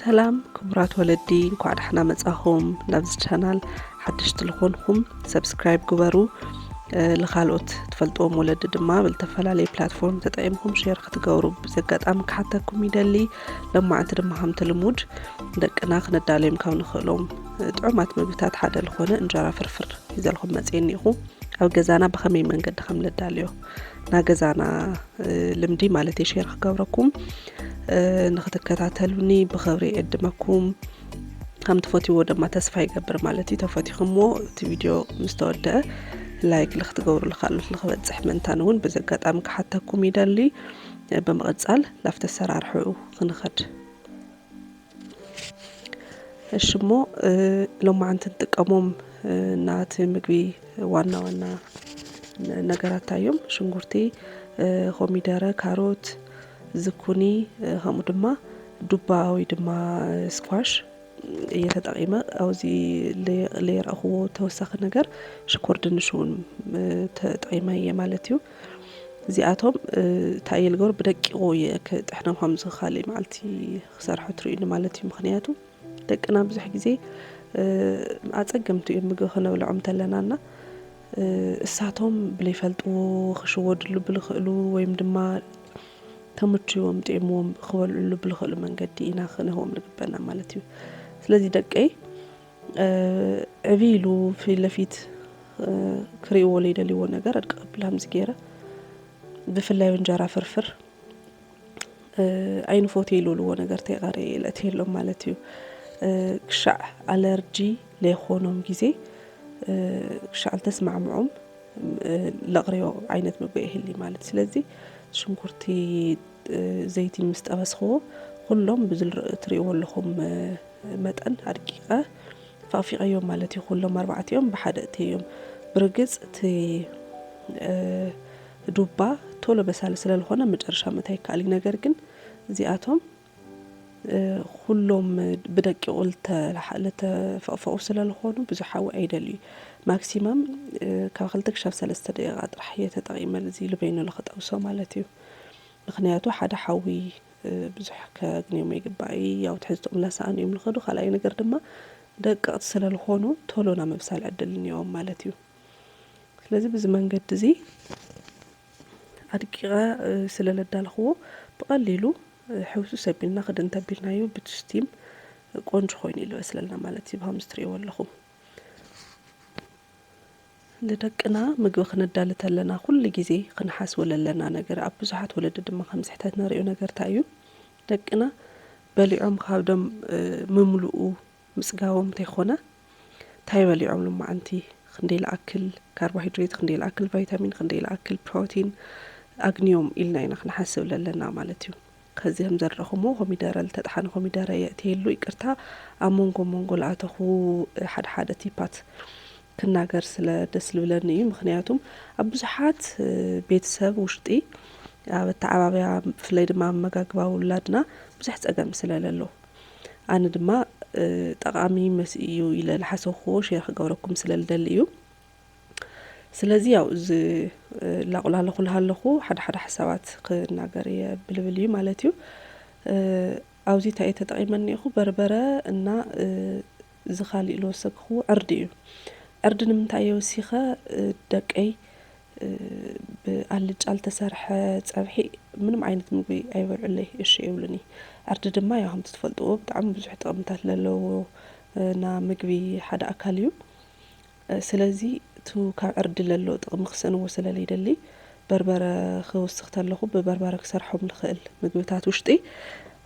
ሰላም ክቡራት ወለዲ እንኳዕ ዳሕና መጻኹም ናብዚ ቻናል ሓደሽቲ ዝኾንኹም ሰብስክራይብ ግበሩ ንካልኦት ትፈልጥዎም ወለዲ ድማ ብዝተፈላለየ ፕላትፎርም ተጠቂምኩም ሼር ክትገብሩ ብዚ ኣጋጣሚ ክሓተኩም ይደሊ ለማዓንቲ ድማ ከምቲ ልሙድ ደቅና ክነዳለዮም ካብ ንኽእሎም ጥዑማት ምግብታት ሓደ ዝኾነ እንጀራ ፍርፍር ይዘልኹም መፅየኒ ኢኹ ኣብ ገዛና ብኸመይ መንገዲ ከም ነዳልዮ ናገዛና ልምዲ ማለት ሸር ክገብረኩም ንክትከታተሉኒ ብክብሪ የዕድመኩም ከም ትፈትዎ ድማ ተስፋ ይገብር ማለት እዩ ተፈቲኹምዎ እቲ ቪድዮ ምስ ተወደአ ላይክ ልክትገብሩ ልካሉት ልክበፅሕ ምእንታን እውን በዚ ኣጋጣሚ ክሓተኩም ይደሊ ብምቕፃል ላፍቲ ኣሰራርሕኡ ክንኸድ እሺ እሞ ሎማዓንቲ ንጥቀሞም ናቲ ምግቢ ዋና ዋና ነገራት እንታይ እዮም? ሽንጉርቲ፣ ኮሚደረ፣ ካሮት፣ ዝኩኒ ከምኡ ድማ ዱባ ወይ ድማ ስኳሽ እየ ተጠቒመ ኣብዚ ለይረእኽዎ ተወሳኺ ነገር ሽኮር ድንሽውን ተጠቒመ እየ ማለት እዩ። እዚኣቶም እንታይ እየ ልገብሩ ብደቂቑ እየ ክጥሕኖም ከምዚ ካልእ መዓልቲ ክሰርሖ ትርእዩኒ ማለት እዩ ምክንያቱ ደቅና ብዙሕ ግዜ ኣፀገምቲ እዮም ምግቢ ክነብልዖም እንተለናና እሳቶም ብለይፈልጥዎ ክሽወድሉ ብልኽእሉ ወይም ድማ ተምችዎም ጢዕምዎም ክበልዕሉ ብልኽእሉ መንገዲ ኢና ክንህቦም ንግበና ማለት እዩ ስለዚ ደቀይ ዕብይ ኢሉ ፊት ለፊት ክርእይዎ ለይደልይዎ ነገር ኣድቀብል ሃምዚ ገይረ ብፍላይ እንጀራ ፍርፍር ኣይንፎትዮ ኢልልዎ ነገር ተይቐረ የእለትየሎም ማለት እዩ ክሻዕ ኣለርጂ ለይኾኖም ግዜ ክሻዕ ልተስማዕምዖም ለቕርዮ ዓይነት ምግቢ ይህሊ ማለት ስለዚ ሽንኩርቲ ዘይቲ ምስ ጠበስክዎ ኩሎም ብዝል ትርእይዎ ኣለኹም መጠን ኣድቂቐ ፋቕፊቐዮም ማለት እዩ። ኩሎም ኣርባዕቲኦም ብሓደ እተዮም። ብርግጽ እቲ ዱባ ቶሎ በሳሊ ስለልኾነ መጨረሻ ምእታይ ይከኣል እዩ። ነገር ግን እዚኣቶም ኩሎም ብደቂቑ ልተፈቕፈቑ ስለልኾኑ ብዙሕ ሓዊ ኣይደልዩ ማክሲማም ካብ ክልተ ክሻብ ሰለስተ ደቂቓ ጥራሕ እየ ተጠቒመ እዚ ልበይኑ ልክጠብሶ ማለት እዩ። ምኽንያቱ ሓደ ሓዊ ብዙሕ ከግንዮም ኣይግባእይ ያው ትሕዝትኦም ላሳኣኑ እዮም ልኸዱ ካልኣይ ነገር ድማ ደቀቕቲ ስለ ልኾኑ ቶሎ ናብ ምብሳል ዕድል እንዮም ማለት እዩ ስለዚ ብዚ መንገዲ እዚ ኣድቂቐ ስለ ለዳልኽዎ ብቐሊሉ ሕውሱ ሰቢልና ክድን ተቢልናዮ ብትስቲም ቆንጆ ኮይኑ ይልበስለልና ማለት እዩ ብሃምስ ትርእይዎ ኣለኹም ንደቅና ምግቢ ክነዳሊ ተለና ኩሉ ግዜ ክንሓስቦ ለለና ነገር ኣብ ብዙሓት ወለዲ ድማ ከም ስሕተት ነሪኦ ነገር ታይ እዩ ደቅና በሊዖም ካብዶም ምምሉኡ ምፅጋቦም ተይኮነ ታይ በሊዖም ሎማዓንቲ ክንደይ ልኣክል ካርቦሃይድሬት ክንደይ ልኣክል ቫይታሚን ክንደይ ልኣክል ፕሮቲን ኣግንዮም ኢልና ኢና ክንሓስብ ለለና ማለት እዩ። ከዚም ዘረኹሞ ኮሚደረ ልተጥሓነ ኮሚደረ የእትየሉ ይቅርታ ኣብ ሞንጎ ሞንጎ ልኣተኹ ሓደ ሓደ ቲፓት ክናገር ስለ ደስ ልብለኒ እዩ ምክንያቱም ኣብ ብዙሓት ቤተሰብ ውሽጢ ኣብ ኣተዓባብያ ብፍላይ ድማ ኣመጋግባ ውላድና ብዙሕ ፀገም ስለ ለሎ ኣነ ድማ ጠቃሚ መስእዩ ኢለ ልሓሰብኩዎ ሼር ክገብረኩም ስለ ልደሊ እዩ ስለዚ ያው እዚ ላቁላለኹ ልሃለኹ ሓደ ሓደ ሓሳባት ክናገር እየ ብልብል እዩ ማለት እዩ ኣብዚ እንታይ እየ ተጠቒመ እኒኹ በርበረ እና እዚ ካሊእ ዝወሰክኹዎ ዕርዲ እዩ ዕርዲ ንምንታይ እየ ወሲኸ ደቀይ ብኣልጫ ዝተሰርሐ ፀብሒ ምንም ዓይነት ምግቢ ኣይበልዑለይ እሺ ይብሉኒ ዕርዲ ድማ ያው ከምቲ ትፈልጥዎ ብጣዕሚ ብዙሕ ጥቕምታት ለለዎ እና ምግቢ ሓደ ኣካል እዩ ስለዚ እቱ ካብ ዕርዲ ለሎ ጥቕሚ ክሰእንዎ ስለ ለይደሊ በርበረ ክውስኽ ተለኹ ብበርበረ ክሰርሖም ልኽእል ምግብታት ውሽጢ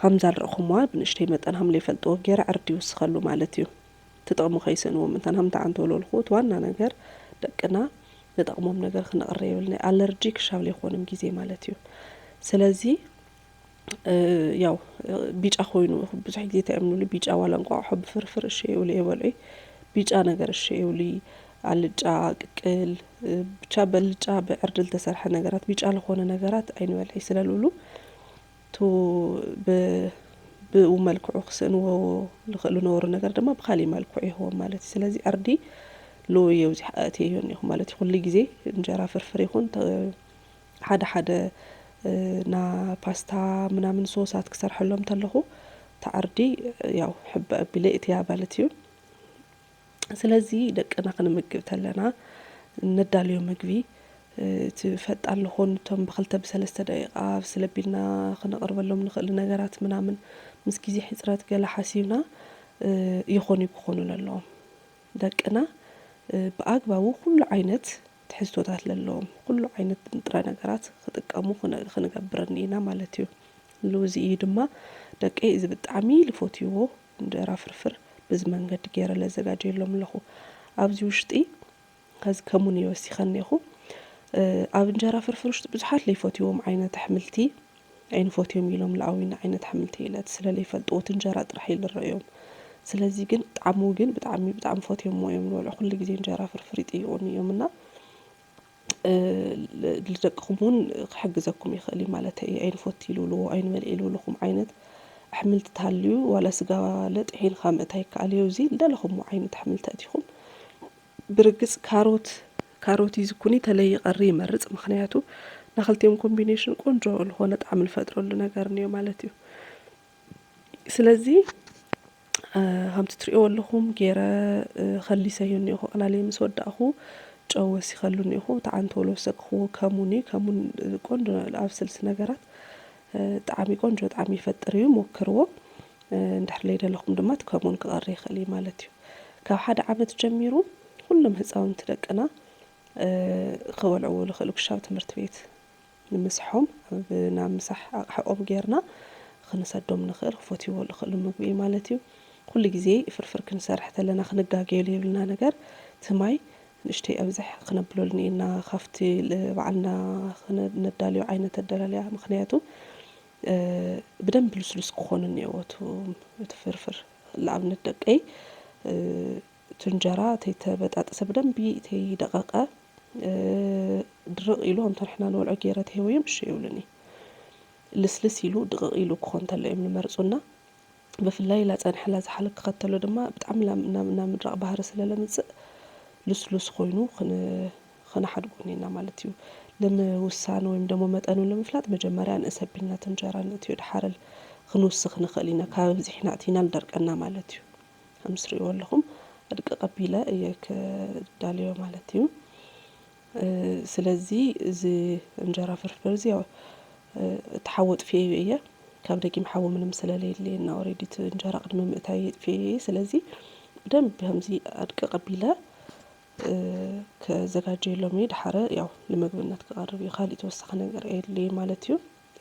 ኸምዛ ልርእኹምዋ ብንእሽተይ መጠን ሃም ለይፈልጥዎ ገይረ ዕርዲ ይውስኸሉ ማለት እዩ። እቲ ጥቕሚ ከይሰእንዎ ምንታን ሃም ተዓንተው ለልኹ እቲ ዋና ነገር ደቅና ንጠቕሞም ነገር ክነቕርብ የብልናይ ኣለርጂ ክሻብ ለይኾንም ጊዜ ማለት እዩ። ስለዚ። ያው ቢጫ ኮይኑ ብዙሕ ግዜ እንታይ እዮም ዝብሉ ቢጫ ዋላ እንቋቑሖ ብፍርፍር እሺ ይብሉ የበልዑ ቢጫ ነገር እሺ ይብሉ ኣልጫ ቅቅል ብቻ በልጫ ብዕርዲ ዝተሰርሐ ነገራት ቢጫ ዝኾነ ነገራት ኣይንበልዕ ስለ ዝብሉ ቱ ብኡ መልክዑ ክስእንዎ ዝኽእሉ ነበሩ ነገር ድማ ብካሊእ መልክዑ ይህቦም ማለት እዩ ስለዚ ዕርዲ ሎዮ እዚኣ ኣእትየዮ እኒኹ ማለት እዩ ኩሉ ግዜ እንጀራ ፍርፍር ይኹን ሓደ ሓደ እና ፓስታ ምናምን ሶሳት ክሰርሐሎም እንተለኹ ተዓርዲ ያው ሕበ ኣቢለ እትያ ማለት እዩ ስለዚ ደቅና ክንምግብ ተለና ነዳልዮ ምግቢ እቲ ፈጣን ልኾኑ እቶም ብክልተ ብሰለስተ ደቂቃ ስለቢልና ክነቕርበሎም ንኽእል ነገራት ምናምን ምስ ግዜ ሕፅረት ገለ ሓሲብና ይኾኑ ክኾኑ ኣለዎም ደቅና ብኣግባቡ ኩሉ ዓይነት ትሕዝቶታት ለለዎም ኹሉ ዓይነት ንጥረ ነገራት ኽጥቀሙ ኽንገብርን ኢና ማለት እዩ። ልውዚ እዩ ድማ ደቀይ እዚ ብጣዕሚ ልፎትይዎ እንጀራ ፍርፍር ብዚ መንገዲ ገይረ ለዘጋጀየሎም ለኹ። ኣብዚ ውሽጢ ኸዚ ከሙን እየ ወሲኸ እኔኹ። ኣብ እንጀራ ፍርፍር ውሽጢ ብዙሓት ለይፎትይዎም ዓይነት ኣሕምልቲ ኣይንፎትዮም ኢሎም ልኣዊና ዓይነት ኣሕምልቲ ኢለት ስለ ለይፈልጥዎ እቲ እንጀራ ጥራሕ እዩ ልረእዮም ስለዚ ግን ጣዕሙ ግን ብጣዕሚ ብጣዕሚ ፎትዮሞ እዮም ልበልዑ ኩሉ ግዜ እንጀራ ፍርፍር ይጥይቁኒ እዮም እና ልደቅኹም እውን ክሕግዘኩም ይኽእል እዩ ማለት እዩ ኣይንፎቲ ልብልዎ ኣይንበልዒ ልብልኹም ዓይነት ኣሕምልቲ ተሃልዩ ዋላ ስጋ ለጥ ሒንኻ ምእታይ ይከኣል እዩ እዚ ልደለኹምዎ ዓይነት ኣሕምልቲ ኣእቲኹም ብርግጽ ካሮት ካሮት ኢዝ ኩኒ ተለይ ይቀሪ ይመርጽ ምክንያቱ ናክልቲኦም ኮምቢኔሽን ቆንጆ ልኾነ ጣዕሚ ልፈጥረሉ ነገር ንዮ ማለት እዩ ስለዚ ከምቲ ትሪእዎ ኣለኹም ገይረ ከሊሰዮ እኒኹ ኣቕላልየ ምስ ወዳእኹ ጨው ወሲኸሉ እኒኹ እቲ ዓንተሎ ወሰክኹዎ ከሙን እዩ ከሙን ቆንጆ ኣብ ስልሲ ነገራት ጣዕሚ ቆንጆ ጣዕሚ ይፈጥር እዩ ሞክርዎ እንድሕር ለይደለኹም ድማ እቲ ከሙን ክቐሪ ይኽእል እዩ ማለት እዩ ካብ ሓደ ዓመት ጀሚሩ ኩሎም ህፃውንቲ ደቅና ክበልዕዎ ዝኽእሉ ክሻብ ትምህርቲ ቤት ንምስሖም ኣብ ናብ ምሳሕ ኣቕሓኦም ጌርና ክንሰዶም ንኽእል ክፈትይዎ ዝኽእሉ ምግቢ እዩ ማለት እዩ ኩሉ ግዜ ፍርፍር ክንሰርሕ ተለና ክንጋገየሉ የብልና ነገር እቲ ማይ ንእሽተይ ኣብዘሕ ክነብሎ ልኒኤና ካፍቲ ባዕልና ክነዳልዮ ዓይነት ኣደላልያ ምክንያቱ ብደንብ ልስሉስ ክኾኑ እኒኤዎቱ እቲ ፍርፍር ልኣብነት ደቀይ ቱንጀራ ተይተበጣጥሰ ብደንቢ ተይደቐቐ ድርቕ ኢሉ ኣምቶ ንሕና ንበልዖ ገይረ ተሄወዮም እሸ ይብሉኒ ልስልስ ኢሉ ድቕቕ ኢሉ ክኾን ተሎ እዮም ልመርፁና ብፍላይ ላፀን ሓላ ዝሓል ክኸተሎ ድማ ብጣዕሚ ናብ ናብ ምድራቕ ባህሪ ስለ ለምፅእ ልስሉስ ኾይኑ ኽንሓድጎ ኔና ማለት እዩ። ልምውሳን ወይም ደሞ መጠኑ ልምፍላጥ መጀመርያ ንእሰ ቢልናት እንጀራ ንእትዮ ድሓረል ኽንውስኽ ንኽእል ኢና ካብ ኣብዚሕና እቲና ልደርቀና ማለት እዩ። ኸምስሪእዎ ኣለኹም ኣድቅቕ ኣቢለ እየ ክዳልዮ ማለት እዩ። ስለዚ እዚ እንጀራ ፍርፍር እዚ ያው እቲ ሓዊ ኣጥፊኤዮ እየ ካብ ደጊም ሓዊ ምንም ስለለየለይ እና ኦሬዲ እቲ እንጀራ ቅድሚ ምእታይ ኣጥፊኤዮ እየ ስለዚ ብደንብ ከምዚ ኣድቅቕ ኣቢለ ከዘጋጀየሎም እየ ድሓረ ያው ንምግብነት ክቐርብ እዩ ካልእ ተወሳኺ ነገር ኣየድልይ ማለት እዩ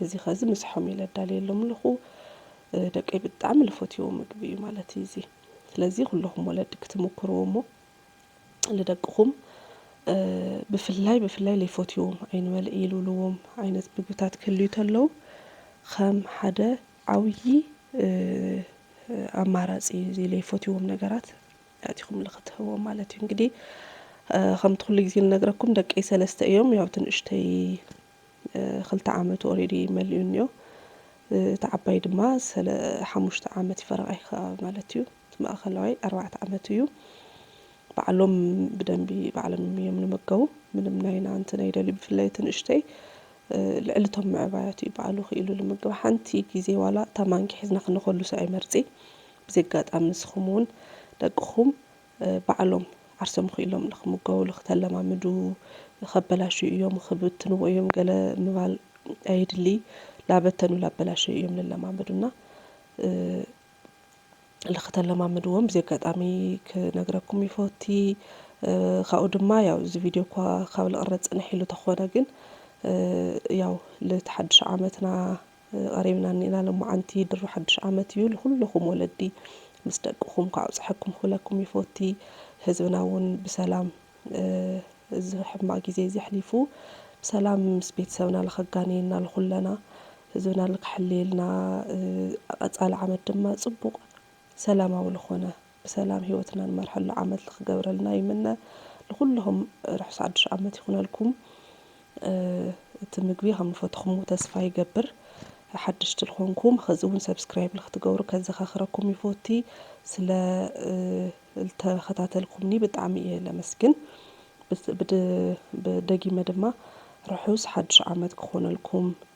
እዚ ኸዚ ምሳሖም ኢለ ኣዳልየሎም ኣለኹ ደቀይ ብጣዕሚ ልፈትዎ ምግቢ እዩ ማለት እዩ እዚ ስለዚ ኩለኹም ወለዲ ክትምኩርዎ እሞ ልደቅኹም ብፍላይ ብፍላይ ለይፎትዎም ኣይንበልዕ ኢሉልዎም ዓይነት ምግብታት ክህልዩ ተለው ኸም ሓደ ዓብዪ ኣማራፂ እዩ እዚ ለይፎትዎም ነገራት ኣእቲኹም ልክትህብዎም ማለት እዩ እንግዲህ ከምቲ ኩሉ ግዜ ልነግረኩም ደቀይ ሰለስተ እዮም ያው ትንእሽተይ ክልተ ዓመቱ ኦሬዲ መሊኡ እኒኦ እቲ ዓባይ ድማ ሰለ ሓሙሽተ ዓመት እዩ ፈረቓ ይኸኣ ማለት እዩ እቲ ማእኸላዋይ ኣርባዕተ ዓመቱ እዩ ባዕሎም ብደንቢ ባዕሎም እዮም ንመገቡ ምንም ናይና እንትን ኣይደልዩ ብፍላይ እቲ ንእሽተይ ልዕሊ እቶም ምዕባያት እዩ ባዕሉ ክኢሉ ልምገብ ሓንቲ ግዜ ዋላ እታ ማንኪ ሒዝና ክንኸሉሰ ኣይመርፂ ብዚ ኣጋጣሚ ንስኹም እውን ደቅኹም ባዕሎም ዓርሶም ኺኢሎም ንኽምገቡሉ ኽተለማምዱ ኸበላሽዩ እዮም ኽብትንዎ እዮም ገለ ምባል ኣየድሊ ላበተኑ ላበላሸዩ እዮም ልለማመዱና ልኽተለማምድዎም ብዚ ኣጋጣሚ ክነግረኩም ይፈቲ ኻብኡ ድማ ያው እዚ ቪድዮ እኳ ኻብ ልቕረፅ ፅንሕ ኢሉ ተኾነ ግን ያው ልተሓድሽ ዓመትና ቐሪብና እኒና ሎማዓንቲ ድሮ ሓዱሽ ዓመት እዩ ልኹልኹም ወለዲ ምስ ደቅኹም ኳዕ ኣብፀሐኩም ክብለኩም ይፎቲ ህዝብና እውን ብሰላም እዚ ሕማቅ ግዜ እዚ ኣሕሊፉ ብሰላም ምስ ቤተሰብና ልኸጋንየና ልኹለና ህዝብና ልክሐልየልና ቐፃሊ ዓመት ድማ ፅቡቅ ሰላማዊ ልኾነ ብሰላም ሂወትና ንመርሐሉ ዓመት ልክገብረልና ይምነ ልኩልኩም ርሑስ ሓዱሽ ዓመት ይኩነልኩም እቲ ምግቢ ከም ልፈትኩምዎ ተስፋ ይገብር ሓደሽቲ ልኮንኩም ኸዚ እውን ሰብስክራይብ ልክትገብሩ ከዘካክረኩም ይፎቲ ስለ ልተከታተልኩምኒ ብጣዕሚ እየ ለመስግን ብደጊመ ድማ ርሑስ ሓዱሽ ዓመት ክኮነልኩም